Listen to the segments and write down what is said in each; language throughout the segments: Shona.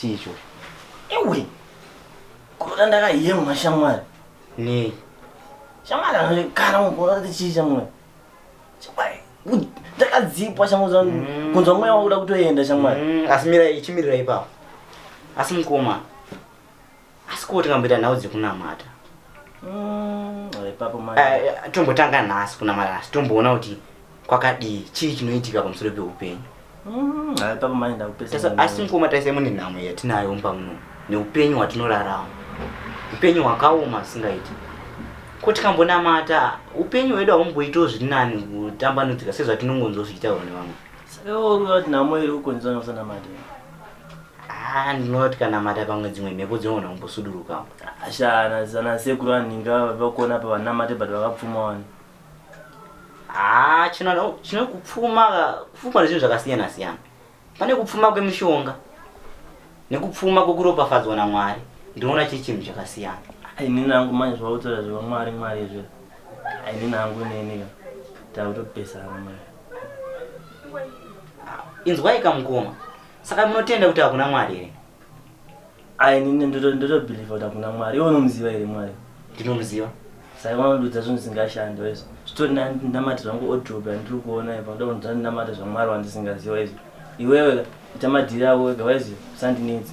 Chii icho? Ewe. Kurota ndakayemwa shamwari. Nei? Shamwari anokana mukona kuti chii shamwari? Shamwari. Ndakadzipwa shamwari zvangu. Mm. Kunzwa mweya wakuda kutoenda shamwari. Mm, asi mira ichimirira ipapo. Asi mukoma. asi ko tingamboita nhau dzekunamata mm, eh, eh, tombotanga nhasi kunamata nhasi tomboona kuti kwakadii chii chinoitika pamusoro peupenyu mm, asi mukoma taisai mune nhamo yatinayo mumba muno neupenyu hwatinorarama upenyu hwakaoma asingaiti ko tikambonamata upenyu hwedu haumboitawo zviri nani kutambanudzika sezvatinongonzozviitawo nevamwe saka iwo uyo atinhamo iri ukonzwa nosanamata Ah, ndinoona kuti kanamata pamwe dzimwe mhepo dzinogona kumbosudurukawo. Ashana sana sekuru anhinga vakuona apa vanamate but vakapfuma wani. Ah, chino no, chino kupfuma ka- kupfuma nezvinhu zvakasiyana siyana. Pane kupfuma kwemishonga nekupfuma kwekuropafadzwa naMwari. Ndinoona chiri chinhu chakasiyana. Ini nangu manje zvautora zviva mwari mwari izvi. Ini nangu neni ka. Takutopesana manje. Inzwai kamukoma. Saka munotenda kuti hakuna Mwari here? Ayi nini ndoto ndoto believe kuti hakuna Mwari. Iwe unomuziva here Mwari? Ndinomuziva. Saka unodudza zvinhu zvisingashandi wese. Zvitori namatirwa angu odrobe andiri kuona ipa ndoda kunzwa ndinamata zvaMwari wandisingaziva wese. Iwewe ita madhiri ako wega wese usandinetsi.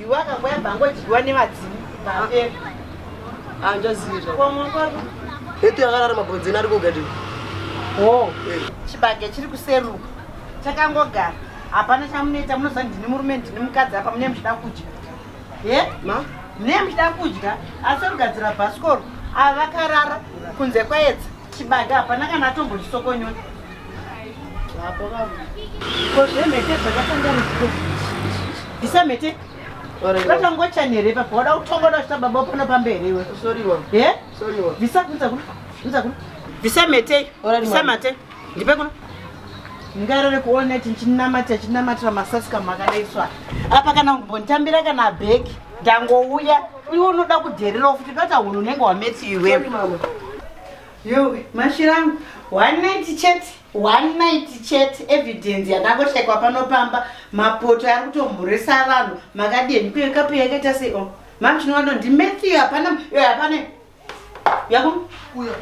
Iwe akangoya bhangodyiwa nevadzimu vapera. Anjazira. Kwa mwakwaro. Etu yakarara mabonzeni ari kugadi. Oh. Eh. Chibage chiri kuseruka. Chakangogara. Hapana chamunoita munoziva ndini murume ndini mukadzi apa mune muchida kudya. Ye? Ma? Mune muchida kudya asi rugadzira bhasikoro ava vakarara kunze kwaedza. Chibage hapana kana atombotisokonyoka. Hapo baba. Ko zvemhete zvakasanganiswa. Bvisa mhete. Vatangocha nere papa wada kutongoda kuchita baba pano pamberi iwe. Sorry wa. Eh? Sorry wa. Bvisa kunza kuno. Kunza kuno. Bvisa mhete. Bvisa mate. Ndipe kuno. Ngarare kuona chinamata chinamatira masasi kamakaiswa. Apa kana kumbonditambira kana bheki. ndangouya iwe unoda kudhererawo futi ndati hunhu unenge wametsi iwewe yo mashira angu one night chet one night chet evidence yakangoshaikwa pano pamba mapoto ari kutomhurisa vanhu makadini kuekapu yakaita sei o oh, mam chinowa no ndimethiyo hapana yo hapana Yako? Uya.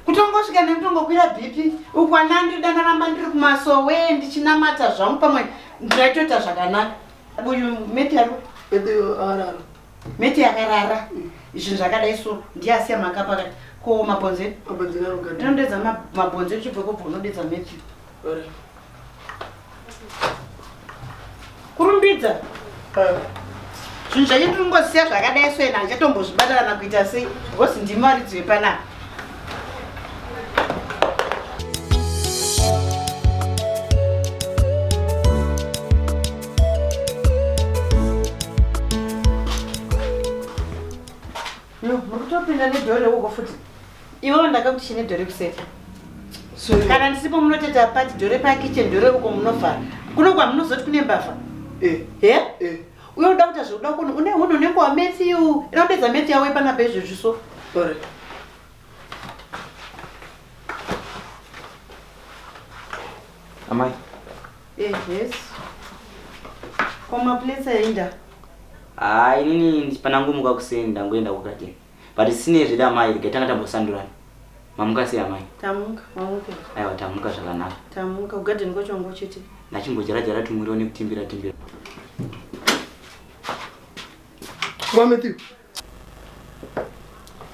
Kutongosvika nekutongokwira bhipi uku ana andidana ramba ndiri kumasowe ndichinamata zvangu pamwe ndaitoita zvakanaka. Uyu meti yako? Meti yakarara. Meti yakarara. Mm. Zvinhu zvakadai so ndiyasiya maka pakati. Ko mabhonzo? Mabhonzo anogara. Ndinodedza mabhonzo chibveko bvo unodedza meti. Ora. kurumbidza zvinhu zvacho tiringosiya zvakadai so ena achatombozvibatarana kuita sei because ndimi varidzi vepanapa Yo, muri kutopinda nedoor reuko futi. Iwe wandaka kuti chine door rekuseri. So you- Kana ndisipo munoteta pati door repa kitchen door reuko munovhara. Kuno kwamunozoti kune mbavha. Eh, He? eh, Uye unoda kuita zvekuda kuno une hunhu unenge wa Matthew. Inoda kupedza Matthew yawe pana pezvezvi so. sorry. Amai. Ehes. Ko maplates ainda? Ah, inini panangomuka kuseni ndangoenda kugarden. But sine zvede amai rega tanga tambosandurana. Mamuka sei amai? Tamuka, mamuka. Aiwa tamuka zvakanaka. Tamuka kugarden kwacho wangu chete. Nachimbodyara dyara tumuriwo nekutimbira timbira. Kwa Matthew.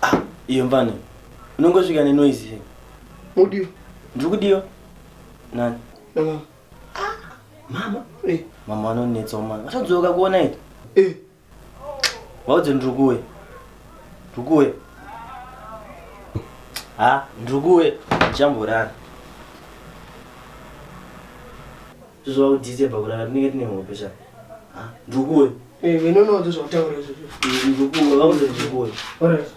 Ah, iyo mvana unongosvika nenoise here mudiwa ndiri kudiwa nani namama ah, mama eh. mama vanonetsa umana vatadzoka kuona ita eh. vaudze ndiri kuwe ndiri kuwe ha ndiri kuwe ndichamborara Tozova kudite pakurara tinenge tine hope sha. Ah, ndukuwe. Eh, we don't know those of tower. Ndukuwe, vakuze ndukuwe. All right.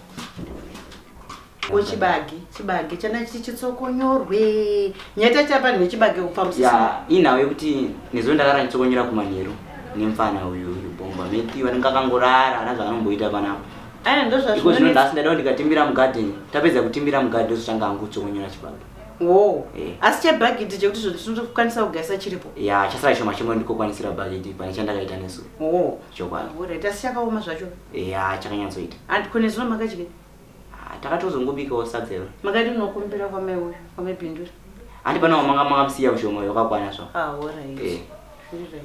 Ko chibage, chibage chana chiti chitsokonyorwe. Nyata chapa ne chibage kupa musisi. Ya, inawo yekuti nezo ndakarara chitsokonyora kumanheru nemfana uyu uyu bomba. Meti vanenge akangorara hana zvaanomboita panapa. Aya ndozvazvo. Iko zvino ndasi ndadawo ndikatimbira mugarden. Tapedza kutimbira mugarden zvochanga hangu kutsokonyora chibage. Wo. Eh. Asi chebhagidhi chekuti zvoti tinotokwanisa kugaisa chiripo. Ya, chasara choma chimwe ndikokwanisira bhagidhi pane chandakaita nesu. Wo. Chokwadi. Alright, asi chakaoma zvacho. Ya, chakanyatsoita. And kune zuva makadya. Ah, takatozongobikawo sadza iro. Makati munokumbira kwamai uyu, kwamai Bindura. Handi panawo manga makamusiya mushoma uyo wakakwana zvawo. Ah, alright. Eh. Zviri right.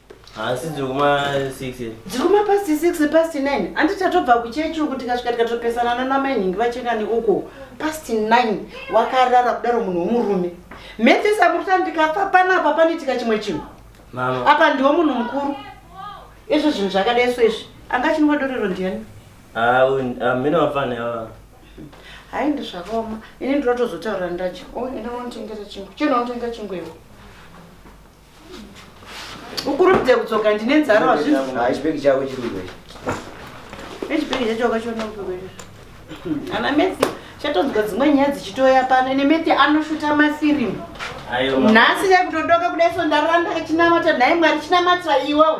Haasi dziri kuma 6 here? Dziri kuma past 6 past 9. Andi tatobva kuchechi uku tikasvika tikatopesana nana mai nhingi vachekani uko. Past 9 wakarara kudaro munhu womurume. Mete samukuta ndikafa pana apa panitika chimwe chinhu. Mama. Apa ndiwo munhu mukuru. Izvo zvinhu zvakadai so izvi. Anga chinwa dorero ndiyani? Ah, ah mina wafana yawa. Hayi ndizvakaoma. Ini ndinotozotaura ndaje. Oh, ina unotengera chingu. Chino unotengera chingu iwe. ukurumidze kudzoka ndine nzara wazvizvibheki chako chiriko echibheki chacho wakachiona kupekwezvo ana mesi chatonzwa dzimwe nyaya dzichitoya pano ine meti anoshuta mafirimu nhasi yakutodoka kudai so ndaranda achinamata nhai mwari chinamata iwewe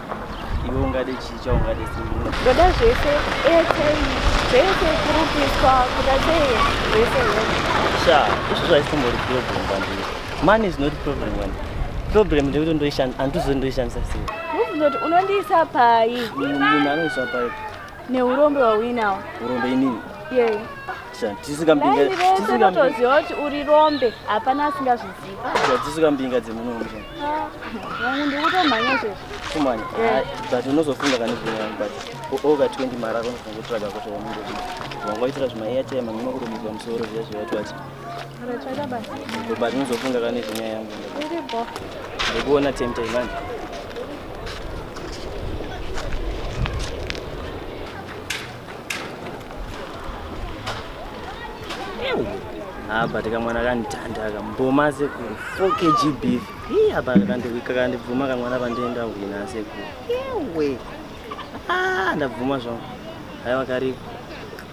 iwe ungade chii chaungade ndoda zvese airtime zvese kurupiswa kuda sei zvese sha izvo zvaisimbori problem kwandiri money is not problem wani problem ndekuti ndoishandisa andizvo ndoishandisa sei unondiisa pai munhu anoisa pai Neurombe wauinawo. Urombe inini. Yei. Tisingambinga. Tisingatoziva kuti uri rombe hapana asingazviziva. Tisingambinga dzemuno muno. Vanhu ndikutomhanya izvezvi. Kumhanya. But unozofunga kana zvimwe but oga 20 mara unofunga kutsvaga kuti wamunhu. Wangaitira zvima airtime mamwe kurumidzwa musoro zviya zviya twacha. But unozofunga kana nezvenyaya yangu. Uripo. Ndikuona tempter manje. apa tikamwana kandithanda aka mboma sekuru 4 kg beef hii apa kakandihwika kandibvuma kamwana pandienda hwina sekuru ewe ah, ndabvuma zvangu haiwa kariko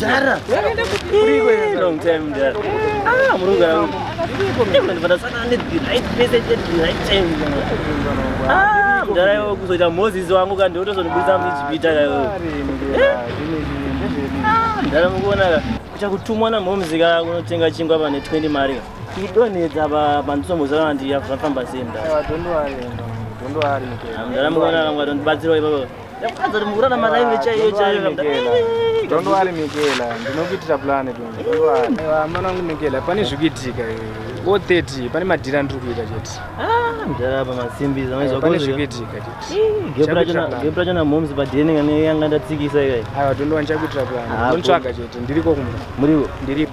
Dara. Long time dara. Ah, murunga rangu. Ndipata sana ne the right message at the right time. Ah, mdara yo kuzoita Moses wangu kandi otozonibudisa mujipita kayo. Ah, mdara mukuona ka. Kucha kutumwa na moms ka kunotenga chingwa pane 20 mari. Kudonedza ba bandisomboza kana ndiyafamba sei mdara. Don't worry. Don't worry. Mdara mukuona ka ngwa tondibatsira ipapo. Yakadza mvura namalaive chaiyo chaiyo kabda. Don't worry Mikela, ndinokuitira plan Don't worry. Mwana wangu Mikela, pane zvikuitika o 30 pane madhira ndiri kuita chete. Ah, mdara apa masimbi zamaizwa pane zvikuitika chete. Gap racho na gap racho na moms pa DNA ngane yanga ndatsikisa ikai. Aiwa don't worry, ndichakuitira plan. Ndinotsvaga chete, ndiriko kumba. Muriwo. Ndiriko.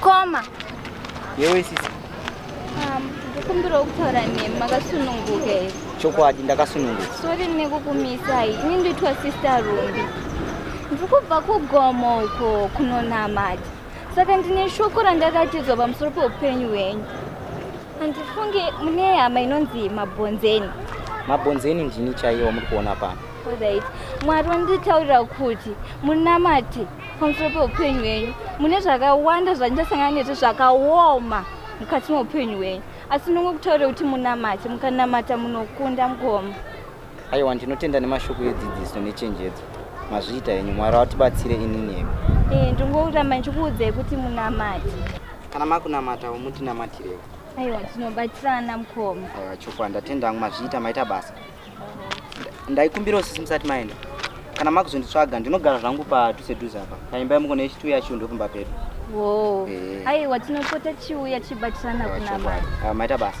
Koma. Yewe sisi. Um, ndikumbirawo kutaura nemi makasununguka here? Chokwadi ndakasununguka. Sorry nekukumisai. Ini ndoitwa sister Rumbi. Ndikubva kugomo uko kunonamata. saka ndine shoko randakatidzwa pamusoro peupenyu hwenyu handifunge mune hama inonzi mabhonzeni mabhonzeni ndini chaiwo muri kuona pano right mwari vanditaurira kuti munamate pamusoro peupenyu hwenyu mune zvakawanda zvandichasangana nezvo zvakaoma mukati meupenyu hwenyu asi ndonge kutaurira kuti munamate mukanamata munokunda mukoma aiwa ndinotenda nemashoko edzidziso nechenjedzo mazviita henyu mwari vatibatsire inini hemi eh, ndingoramba ndichikuudzai kuti munamati kana makunamata umutinamatire aiwa tinobatsirana mukoma aiwa chokwadi ndatenda hangu mazviita maita basa ndaikumbirawo sisi musati maenda kana makuzonditsvaga ndinogara zvangu padhuze dhuze apa paimba yamuko nechituya yacho ndokumba pedu wo eh. aiwa tinopota chiuya tichibatsirana kunamata ah, maita basa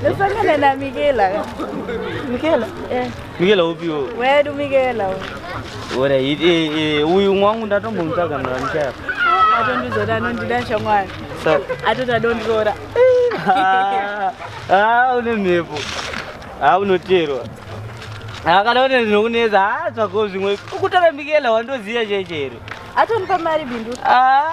Ndosangana na Mikela. Mikela? Eh. Mikela upi wo? Wedu Mikela wo. Ora hit eh eh uyu mwangu ndatombomutsvaga mara muchaya. Atondizoda anondida shamwari. So. Atota dondora. Ah, ah une mhepo. Ah unoterwa. Ah kana une zvinokunetsa ah tsvako zvimwe. Ukutara Mikela wandoziya chechero. Atompa mari bindu. Ah.